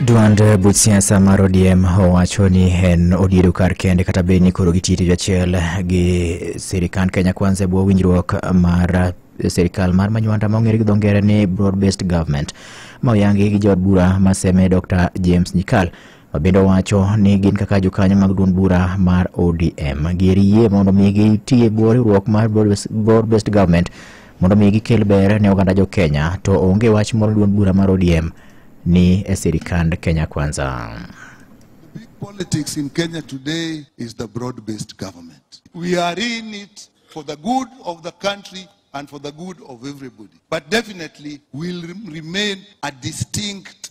Duond buch siasa mar ODM owacho ni en odiedo kar kende kata bed ni koro gitiyo tich achiel gi sirikand Kenya Kwanza e bwo winjruok mar sirikal mar manywanda ma ong'ere gi dho ngere ni broad based government ma oyangi gi jood bura ma seme Dr. James Nyikal. Obindo wacho ni gin kaka jokanyo mag duond bura mar ODM gir yie mondo mi gitie bwo riwruok mar Board Based Government mondo mi gikel ber ne oganda jo Kenya to onge wach moro duond bura mar ODM ni e sirikand Kenya Kwanza. Big politics in Kenya today is the broad-based government. We are in it for the good of the country and for the good of everybody. But definitely will rem- remain a distinct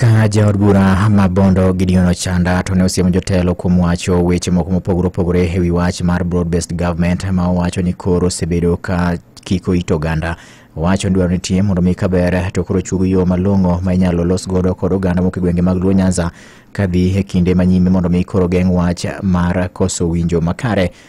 Ka jaod bura ma Bondo Gideon Ochanda to ne osiemo jotelo kuom wacho weche moko mopogore opogore e wi wach mar broad based government ma owacho ni koro osebedo ka kiko it oganda. Owacho ni dwaro nitie mondo mi kaber to koro chug yo malong'o ma inyalo los godo kod oganda moko e gwenge mag Luo Nyanza kadhi e kinde ma nyime mondo mi koro geng' wach mar koso winjo makare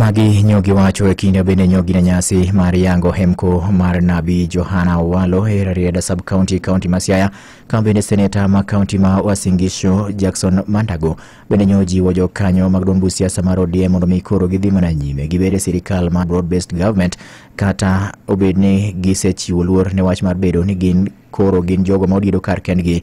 Magi nyogi wacho e kinde bende nyogi na nyasi mar yango hemko mar nabi Johana Owalo e Rarieda sub county county ma Siaya kama bende seneta ma county ma Uasin Gishu Jackson Mandago bende nyo jiwo jokanyo mag duond buch siasa mar ODM mondo mi koro gidhi mana nyime gibed e sirikal mar broad based government kata obed ni gisechiwo luor ne wach mar bedo ni gin koro gin jogo ma odiedo kar kendgi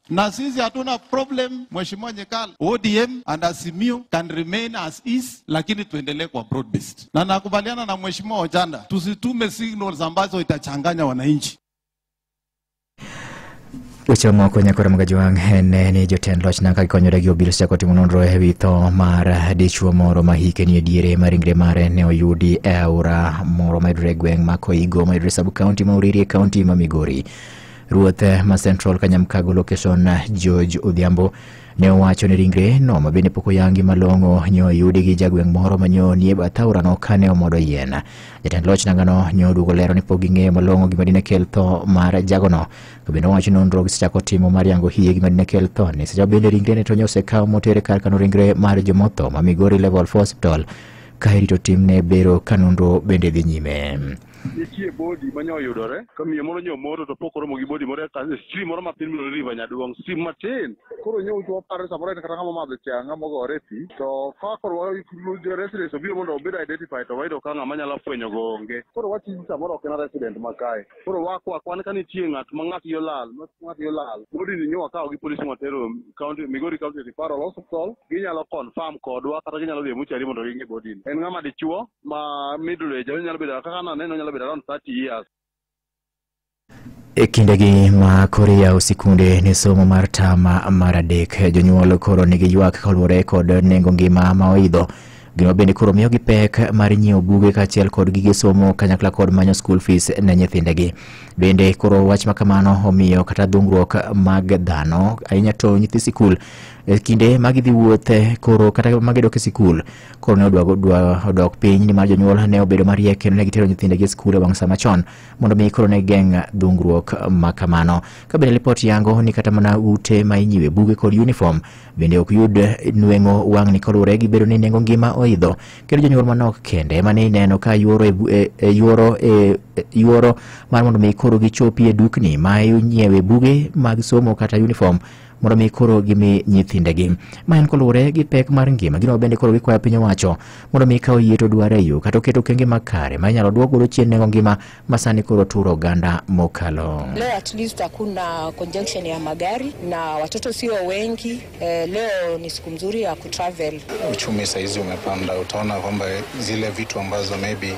na sisi hatuna problem. Mheshimiwa Nyekal, ODM and Azimio can remain as is, lakini tuendelee kwa broad based, na nakubaliana na Mheshimiwa Ochanda, tusitume signals ambazo itachanganya wananchi. Weche mamoko nyakore mag Ajwang' en eh, ni jotend loch nanga gikonyore gi obila sechako timo nonro e wi tho mar eh, dichwo moro ma hike ni e diere ma ringre mare ne oyudi e aora moro mayudore e gweng' ma Koigo mayudore e sub kaunti ma Uriri e kaunti ma Migori. Ruoth ma Central Kanyamkago location George Odhiambo ne owacho ni ringre no ma bende pok oyangi malong'o nyo oyudi gi jagweng' moro ma nyo nie bath aorano kane omodo yien. Jatend loch nangano nyo oduogo lero ni pok ging'eyo malong'o gima dine kel tho mar jagono. To bende owacho ni nonro gisechako timo mar yango hie gima dine kel tho ni secha bende ringre ne to nyo osekaw motere kar kano ringre mar jomotho ma Migori Level 4 Hospital ka irito timne bero ka nonro bende dhi nyime. nitie bodi ma nyo oyudore ka miyo moro nyo moto to pok oromo gi bodi moro e ka- e stream moro matin miluongo ni river nyaduong stream matin koro nyo to waparo samoro en kata ng'ama omadho cha ng'ama ogore e pi to ka koro wa- jo residents obiro mondo obed identified to wayudo ka ng'ama nyalo fwenyo go onge koro wach ni samoro ok en resident ma kae koro wakwa kwan ka nitie ng'at ma ng'at yo lal ma ng'at yo lal bodi ni nyo wakawo gi polisi watero county migori county referral hospital ginyalo confirm kodwa kata ginyalo dhi e muchari mondo ging'e bodi ni en ng'ama dichuo ma middle age onyalo bedo kaka naneno onyalo bedo around 30 years E kindegi ma koro iyawo sikunde ne somo mar tam mar adek, jonyuol koro nigi ywak kaluwore kod nengo ngima ma oidho. Gino bende koro miyogi pek mar nyiewo buge kaachiel kod gige somo kanyakla kod manyo school fees ne nyithindegi. Bende koro wach ma kamano omiyo kata dhungruok mag dhano ahinya to nyithi sikul e kinde ma gidhi wuothe koro kata ma gidok e sikul koro ne odwa odwa- odok piny nimar jonyuol ne obedo mariek kendo ne gitero nyithindegi e skul e wang' sa machon mondo mi koro ne geng' dhungruok ma kamano ka bende lipot yango ni kata mana ute ma inyiwe buge kod uniform bende ok yud nweng'o wang'ni kaluwore gi bedo ni nengo ngima oidho kendo jonyuol manok kende ema ne ineno ka yuoro e bu- e- e- yuoro e- e- yuoro mar mondo mi koro gichopi e dukni ma inyiewe buge mag somo kata uniform mondo mi koro gimi nyithindegi ma en koluwore gi pek mar ngima gino bende koro gikwayo piny owacho mondo mi kawo yie to dware yo kata oketo okenge makare ma inyalo duok godo chien nengo ngima ma sani koro turo oganda mokalo Leo at least hakuna conjunction ya magari na watoto sio wengi. Eh, leo ni siku mzuri ya kutravel. uchumi saizi umepanda, utaona kwamba zile vitu ambazo maybe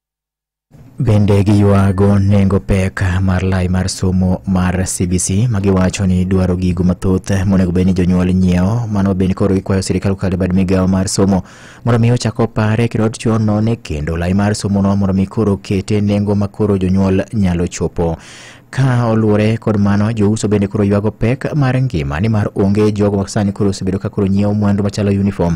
Bende giywago nengo pek mar lai mar somo mar CBC ma giwacho ni dwaro gigo mathoth monego bed ni jonyuol nyiewo. Mano bende koro gikwayo sirkal kokalo bad migawo mar somo mondo mi ochak opare kendo ochon none kendo lai mar somono mondo mi koro kete nengo ma koro jonyuol nyalo chopo. Ka oluwore kod mano, jouso bende koro ywago pek mar ngima nimar onge jogo ma sani koro osebedo ka koro nyiewo mwandu machalo uniform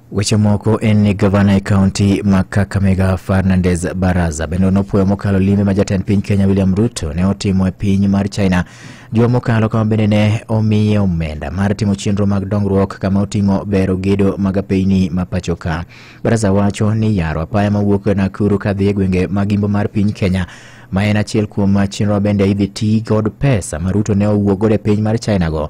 Weche moko en ni gavana e kaunti ma Kakamega Fernandez Baraza bende nopuoyo mokalo limbe ma jatend piny Kenya William Ruto ne otimo e piny mar China juma mokalo kama bende ne omiye omenda mar timo chenro mag dongruok kama oting'o bero gedo mag apeyni ma pacho ka. Baraza wacho ni yaro apaya mawuok Nakuru kadhi e gwenge ma gimbo mar piny Kenya ma en achiel kuom chenro bende idhi ti kod pesa ma Ruto ne owuok godo e piny mar China go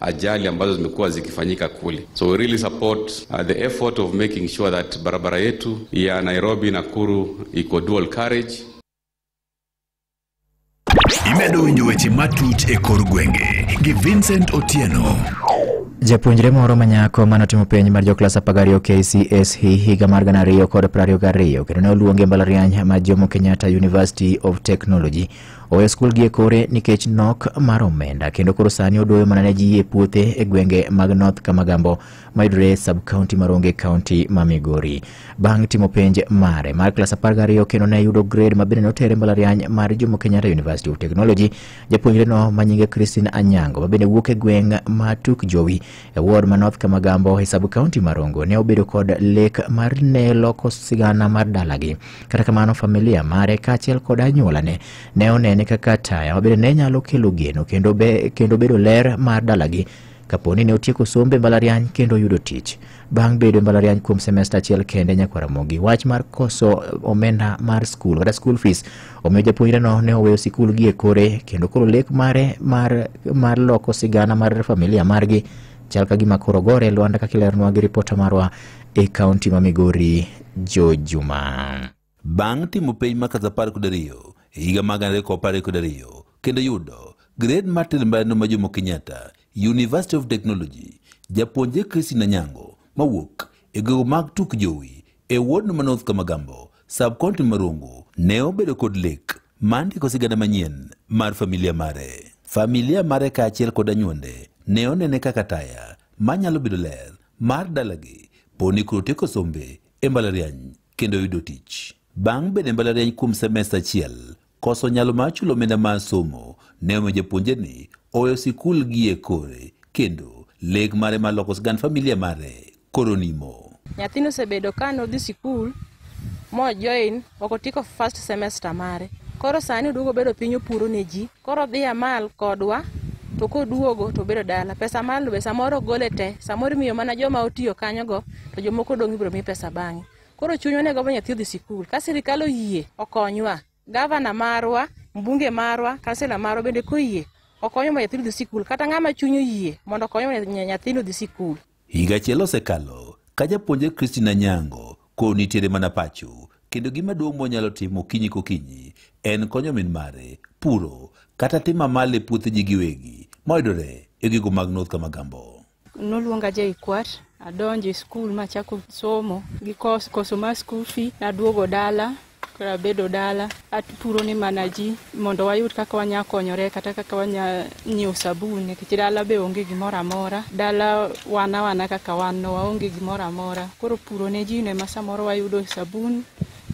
ajali ambazo zimekuwa zikifanyika kule. So we really support uh, the effort of making sure that barabara yetu ya Nairobi Nakuru iko dual carriage. imedo winjo weche matut e kor gwenge gi vincent otieno Japuonjre moro ma nyako mane otimo penj mar joklas apar gariyo KCSE higa mar gana ariyo kod piero ariyo gariyo kendo ne oluonge e mbalariany ma Jomo Kenyatta University of Technology oweyo skul gi e kore nikech nok mar omenda kendo koro sani odoyo mana ne ji e puothe e gwenge mag North Kamagambo mayudore e sub-county mar Onge County ma Migori. Bang' timo penj mare mar klas 12 kendo ne yudo grade ma bende notere mbalariany mar Jomo Kenyatta University of Technology, japuonjreno ma nyinge Christine Anyango ma bende wuok e gweng' ma Tuk Jowi E ward ma North Kamagambo e sub county ma Rongo ne obedo kod lek mar ne loko sigana mar dalagi. Kata kamano familia mare kaachiel kod anyuolane ne onene kaka taya mabende ne nyalo kelo geno kendo, be, kendo bedo ler mar dalagi kapo ni ne otieko sombe mbalariany kendo oyudo tich. Bang' bedo e mbalariany kuom semesta achiel kende nyakwaramogi wach mar koso omenda mar skul kata school fees Omiyo japuonjreno ne oweyo sikul gie kore kendo koro lek mare mar, mar loko sigana mar familia margi chal ka gima koro gore Lwanda kaka ileronwa gi ripota marwa e kaunti ma Migori Jo Juma. Bang' timo penj ma klas apar kod ariyo e higa mag gana ariyo kod apar kod ariyo kendo yudo gred mar telo mbalariano ma Jomo Kenyatta University of Technology, japuonjre Christine Anyango mawuok e gwego mag Tuk Jowi e wodno ma North Kamagambo Subcounty Marungu ne obedo kod lek mar ndiko sigana manyien mar familia mare. Familia mare kaachiel kod anyuonde ne onene kaka taya manyalo bedo ler mar dalagi poni koro tieko sombe e mbalariany kendo yudo tich. Bang' bedo e mbalariany kuom semester achiel, Koso nyalo mar chulo omenda mar somo ne omiyo japuonjre ni oweyo sikul gie kore kendo lek mare mar loko sigand familia mare koro nimo. Nyathini osebedo ka nodhi sikul mojoin ok otieko first semester mare koro sani oduogo obedo piny opuro ne ji koro dhi amal kodwa to koduogo to obedo dala pesa malno be samoro ogole te samoro imiyo mana joma otiyo kanyogo to jomoko odong' ibiro mi pesa bang'e. Koro chunywa ne gombo nyathi odhi sikul. Ka sirikal oyie okonywa, gavana marwa, mbunge marwa, kansela marwa bende koyie okonywa mondo nyathino odhi sikul. Kata ng'ama chuny oyie mondo okonywa mondo nya- nyathino odhi sikul. Higa achiel osekalo ka japuonjre Christina Nyango koro nitiere mana pacho kendo gima duong' monyalo timo okinyi kokinyi en konyo min mare puro kata timo amali e puothegi giwegi mayudore e gigo mag North Kamagambo. Noluonga JKUAT adonjo e skul machako somo gi kos, koso mar skul fee naduogo dala koro abedo dala apuro ni mana ji mondo wayud kaka wanya konyore kata kaka wanya nyiewo sabun nikech dala be onge gimoro amora dala wana wana kaka wan no waonge gimoro amora koro puro ne ji no ema samoro wayudo sabun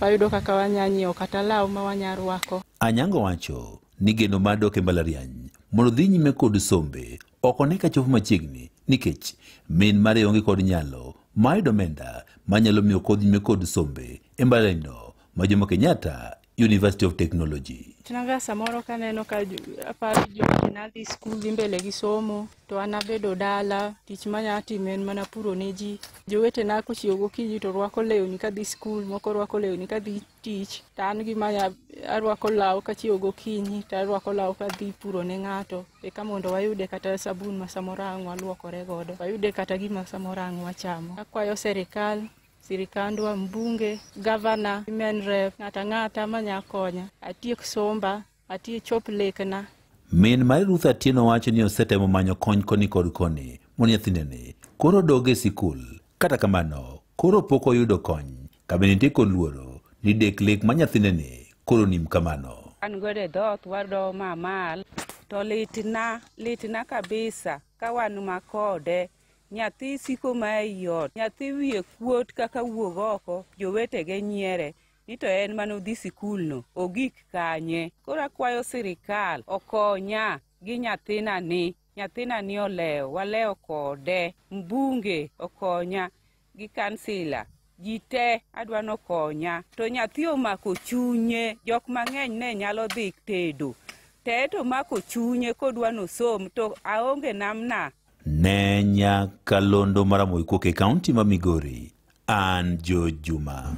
wayudo kaka wanya nyiewo kata law ma wanya rwako Anyango wacho ni geno mar dok e mbalariany mondo odhi nyime kod sombe Ok one ka chopo machiegni nikech min mare onge kod nyalo mar yudo omenda manyalo miyo kod nyime kod sombe e mbalarinyno ma Jomo Kenyatta University of Technology. Naga samoro kaneno ka jo- aparo jowete nadhi skul dhi mbele gi somo to an abedo dala tich manya timo en mana puro ne ji. Jowetena kochiewo gokinyi to rwako lewni kadhi skul, moko rwako lewni kadhi tich to an gima arwako law kachiewo gokinyi to arwako law kadhi puro ne ng'ato eka mondo wayude kata sabun ma samoro ang' walwokore godo wayude kata gima samoro ang' wachamo akwayo serikal sirikandwa mbunge gavana men rep ng'ata ng'ata manya konya atiek somba Atiyo chop lekna. Min mar Ruth Atieno wacho ni osetemo manyo kony koni kod koni mondo nyathineni koro odog e sikul. Kata kamano, koro pok oyudo kony. Kabende nitie kod luoro ni dek lek ma nyathineni koro nim kamano. An godo e dhoth wado mamal to litna litna kabisa ka wan ma kode nyathi siko ma ei ot nyathi wiye kuot kaka wuog oko jowetege nyiere ni to en mane odhi sikulno ogik kanye koro akwayo sirikal okonya gi nyathina ni nyathina ni olewo walewo kode mbunge okonya gi kansila ji te adwa ni okonya to nyathi omako chunye jok mang'eny ne nyalo dhi tedo te to omako chunye kodwa ni osom to aonge namna ne nyakalondo mar Amoykuok e kaunti ma Migori, an George Juma.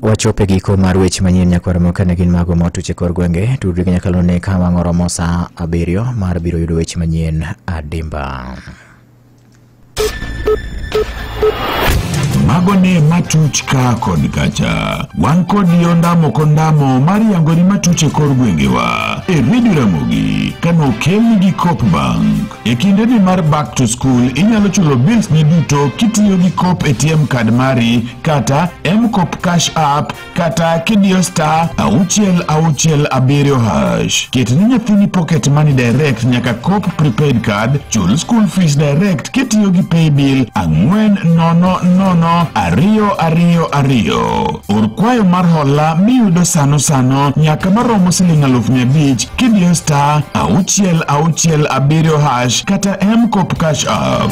Wachopo e giko mar weche manyien nyakwar moka ne gin mago motuch e kor gwenge. Tudri gi nyakalondo ne ka wang' oromo saa abiriyo mar biro yudo weche manyien adimba. mago ne matuch ka kod kacha wan kodi ondamo kondamo mar yangori matuch e kor gwengewa e redio ramogi kane okelni gi cop bank e kindeni mar back to school inyalo chulo bills ni duto kitiyo gi cop atm card mari kata mcop cash app kata kidiyo star auchiel auchiel abiriyo hash ket ni nyathini pocket money direct nyaka cop prepaid card chul school fees direct kitiyo gi paybill ang'wen nono nono ariyo ariyo ariyo or kwayo mar hola miyudo sano sano nyaka maromo siling aluf mia abich kidiyo star auchiel auchiel abiriyo hash kata mcop cash app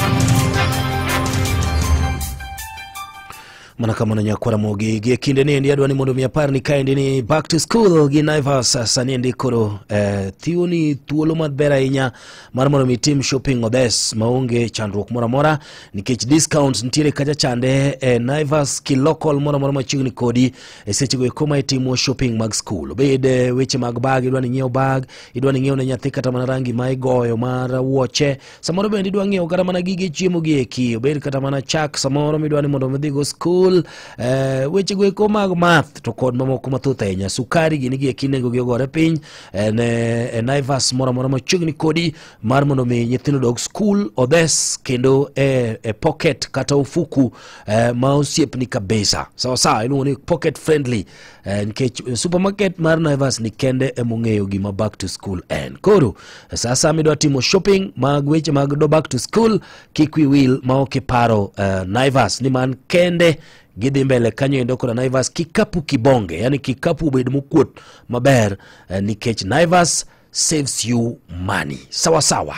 mana kama nonya kwara mogi gie kinde ni endi adwa ni mondo mi apar ni kaendi ni back to school gi Naivas sani endi koro eh, thiwoni thuolo maber ahinya mar mondo mi tim shopping obes maonge chandruok moro amora nikech discounts nitiere kacha chande eh, Naivas ki local moro amora machiegni kodi e sechego eko ma itimo shopping mag school obed eh, weche mag bag idwa ni nyiew bag idwa ni nyiew ne nyathi kata mana rangi ma igoyo mar wuoche samoro bende idwa ng'iewo kata mana gige chiemo gi eki obed kata mana chak samoro midwa ni mondo midhigo skul eh, wechego eko mag math to kod mamoko mathoth ahinya sukari gini gi eki nengogi ogore piny eh, ne e naivas moro amora machiegni kodi mar mondo mi nyithindo dog skul odhes kendo e, e pocket kata ofuku eh, ma osiepni kabisa sawasawa iluongo ni pocket friendly Eh, nikech eh, supermarket mar Naivas ni kende emong'eyo gima back to school en. Koro eh, sasa midwa timo shopping mag weche mag do back to school kik wi wil ma ok iparo eh, Naivas ni man kende gidhi mbele kanyo endo koda Naivas kikapu kibonge, yani kikapu obed mokuot maber eh, nikech Naivas saves you money. Sawa sawa.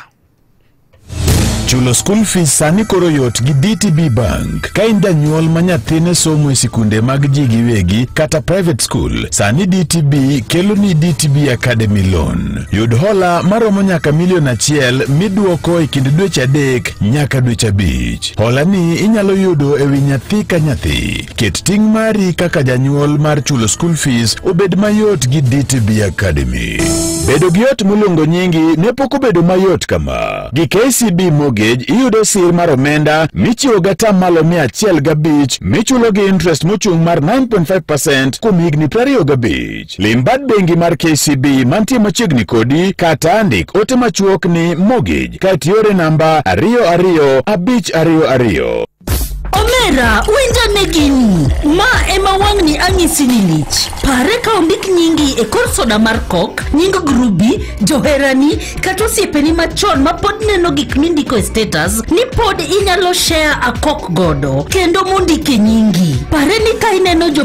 Chulo skul fees sani koro yot gi DTB Bank. Ka in janyuol ma nyathine somo e sikunde mag ji giwegi kata private school, sani DTB kelo ni DTB Academy Loan. Yud hola maromo nyaka milion achiel midwoko e kind dweche adek nyaka dweche abich. Hola ni inyalo yudo e wi nyathi ka nyathi. Ket ting' mari kaka janyuol mar chulo school fees obed mayot gi DTB Academy. Bedo gi ot moluongo nyingi ne pok obedo mayot kama. Gi KCB Mortgage iyudo sir mar omenda michiwo gata malo mia achiel gabich michulo gi interest mochung' mar 9.5% kuom higni prariyo gabich. Lim bad bengi mar KCB mantie machiegni kodi kata ndik ote machuok ni mortgage kae tiore namba ariyo ariyo abich ariyo ariyo. Omera, winjane gini. Ma ema wang'ni anyisi ni lich. Pare ka ondik nyingi e kor soda mar kok, nying grubi, joherani, kata osiepeni machon ma pod neno gik mindiko e status ni pod inyalo share a kok godo kendo mondike nyingi. Pare ni ka ineno jo